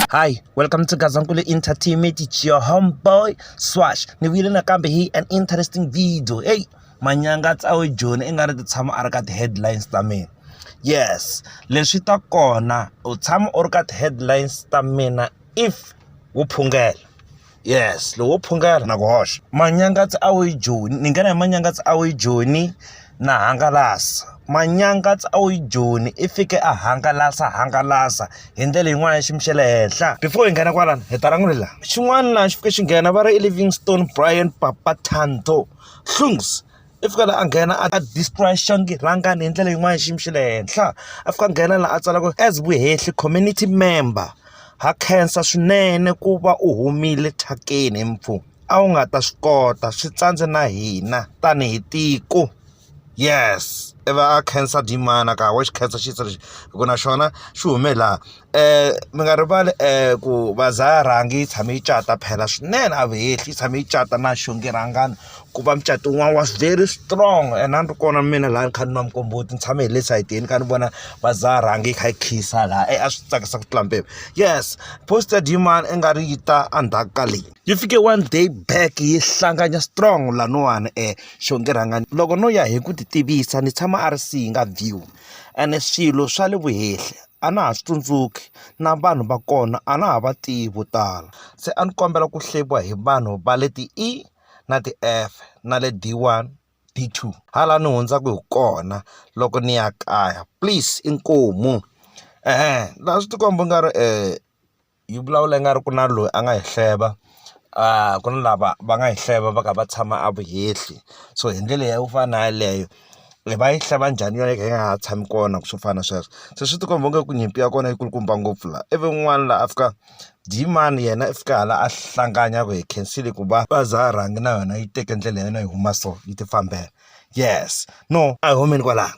Hi, welcome to Gazankulu Entertainment. It's your homeboy Swash. Ni vile nakambe hi an interesting video. Hey, manyanga tsawe Joni i nga ri ti tshama a ri ka ti-headlines ta mina. Yes, leswi ta kona u tshama u ri ka ti-headlines ta mina if wu phungela. yes lowo phungela na ku hoxa manyangatsi a wu yi joni ni nghena hi manyangatsi a wu yi joni na hangalasa manyangatsi a wu yi joni i fike a hangalasa hangalasa hi ndlela yin'wana ya xiyimo xa le henhla before hi nghena kwalana hi ta languti laha xin'wana laha xi fike xi nghena va ri i livingstone brian papa tanto hlungs i fika la a nghena a destroy xangi rhangani hi ndlela yin'wani xiyimo xa le henhla a fika a nghena la a tsalaka as vuhehli community member ha khensa swinene ku va u humile thyakeni he mpfu a wu nga ta swi kota swi tsandze na hina tanihi tiko yes i va a khensa demand a ka ha wa xi khensa xisa lexi hi ku na xona xi hume laha. mi nga rivali ku bazi a rhangi yi tshame yi cata phela swinene a va hehli yi tshame yi cata na xonge rhangani ku va mucatu wun'wana was very strong and a ni ri kona mina laha ni kha ni nwa muqombhoti ni tshame hi le sayitini ni kha ni vona bazi a rhangi yi kha yi khiyisa laha e a swi tsakisa ku tlula mpimo yes poster demand i nga ri yi ta endzhaku ka leyi yi fike one day back yi hlangana strong lahawani xonge rhangani loko no ya hi ku ti tivisa ni tshama a ri si yi nga dyiwi ene swilo swa le vuhehli. a na ha swi tsundzuki na vanhu va kona a na ha va tivi vo tala se a ni kombela ku hleviwa hi vanhu va le ti-E na ti-F na le D one D two ha la ni hundzaku hi kona loko ni ya kaya please inkomu la swi tikomba u nga ri . yi vulavula ingaku ku na loyi a nga hi hleva ku na lava va nga hi hleva va kha va tshama a vuhehli so hi ndlela yo fana na yaleyo va yi hleva njhani yona hi kha hi nga ha tshami kona swo fana na sweswo se swi ti komba ingaku nyimpi ya kona yi kulukumba ngopfu la ivi un'wana la a fika muyimana yena i fika hala a hlangana a ku hi khensile ku va va za rhangi na yona yi teke ndlela ya yona yi huma so yi ti fambela yes no a hi humeni kwala.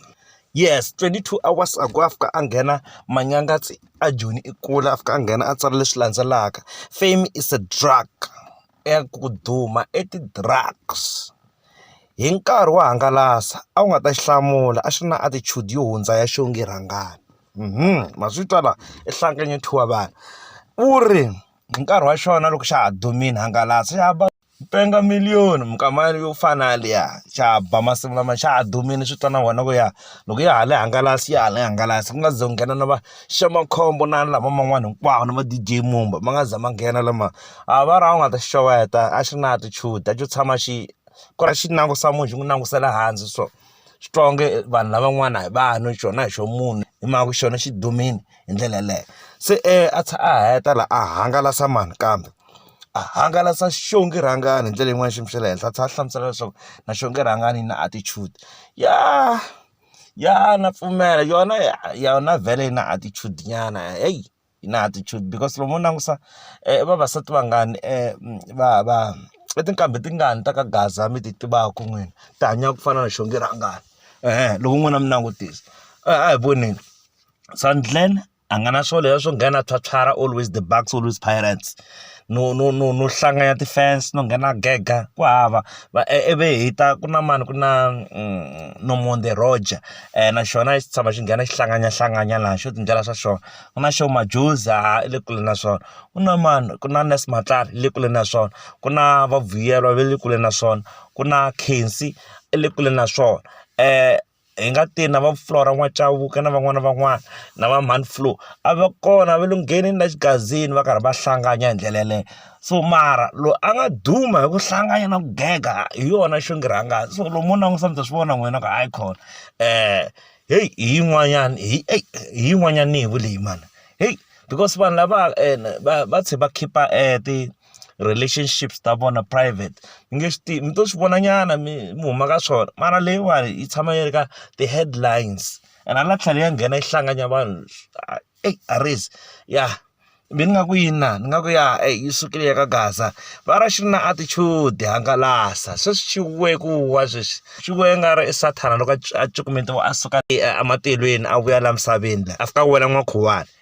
yes twenty two hours ago a fika a nghena manyanga tse a joni i kula a fika a nghena a tsala leswi landzelaka fame is a drug i ku duma i ti-drugs hi nkarhi wo hangalasa a wu nga ta xi hlamula a xi ri na attitude yo hundza ya xongi rhangani ma swi twa la i hlanganyethiwa vanhu u ri hi nkarhi wa xona loko xa ha dumile hangalasa ya va. Ku penga million-i minkama yale yo fana na liya, xa ha ba masiku lama xa ha dumile swi twa na wena ku ya loko ya ha le hangalasa ya ha le hangalasa. Ku nga se za ku nghena na va Shemakhombo na lava man'wana hinkwawo na va-D_J Mumba ma nga za ma nghena lama. A va ri a wu nga ta xi xeweta, a xi ri na attitude, a xo tshama xi ku ri a xi langutisa munhu xi n'wi langutisa le hansi so. Xi twa onge vanhu lavan'wana a hi vanhu xona a hi xa munhu, hi mhaka ku xona xi dumile. hi ndlela yeleyo se a tlhe a heta la a hangalasa mani kambe a hangalasa xongi rhangani hi ndlela yin'wani xiyimo xa le henhla a tlhe a hlamusela leswaku na xongi rhangani yi na attitude ya ya na pfumela yona ya yona vhele yi na attitude nyana heyi yi na attitude because lomu u langusa i vavasati vangani va va i tinqambi tingani ta ka gaza mi ti tivaku n'wina ti hanyaka ku fana na xongi rhangani loko n'wina mi langutisa a hi voneni. Sandlen a nga na swona leswiya swo nghena a pyopyara always the Bucks, always Pirates. No no no no hlanganyela ti-fence no nghena a gega, ku hava. Va ivi hi ta ku na mani ku na Nomonde Roger, na xona a xi tshama xi nghena xi hlanganyanahlanganya laha xo ti endlela swa xona. Ku na Sho Madjozi a i le kule na swona, ku na mani ku na Nurse Matlala i le kule na swona, ku na va Vuyelwa va le kule na swona, ku na Khensi i le kule na swona . hi nga tirhi na va Flora N'wa-Cavauke na van'wana na van'wana na va mhani Flo a va kona va lo ngheneni la xigazini va karhi va hlangana hi ndlela yeleyo so mara loyi a nga duma hi ku hlangana na ku gega hi yona Xingirangani so lomu u langutisa mi ta swi vona n'wina ku hayi khona heyi hi yin'wanyani hi eyi hi yin'wanyani ni yi vu leyi mani heyi because vanhu lava va va tlhe va khipa ti. relationships ta vona private mi nge swi tivi mi to swi vona nyana mi mi huma ka swona mara leyiwani yi tshama yi ri ka ti-headlines and hala tlhelo ya nghena yi hlangana vanhu eyi Arez ya be ni nga ku yini na ni nga ku ya yi sukile ya ka Gaza va ra xi ri na attitude hangalasa se swi chukiwe ku wa sweswi swi vuriwa i nga ri i sathana loko a cukumetiwa a suka ematilweni a vuya laha misaveni la a fika a wela n'wakhuwani.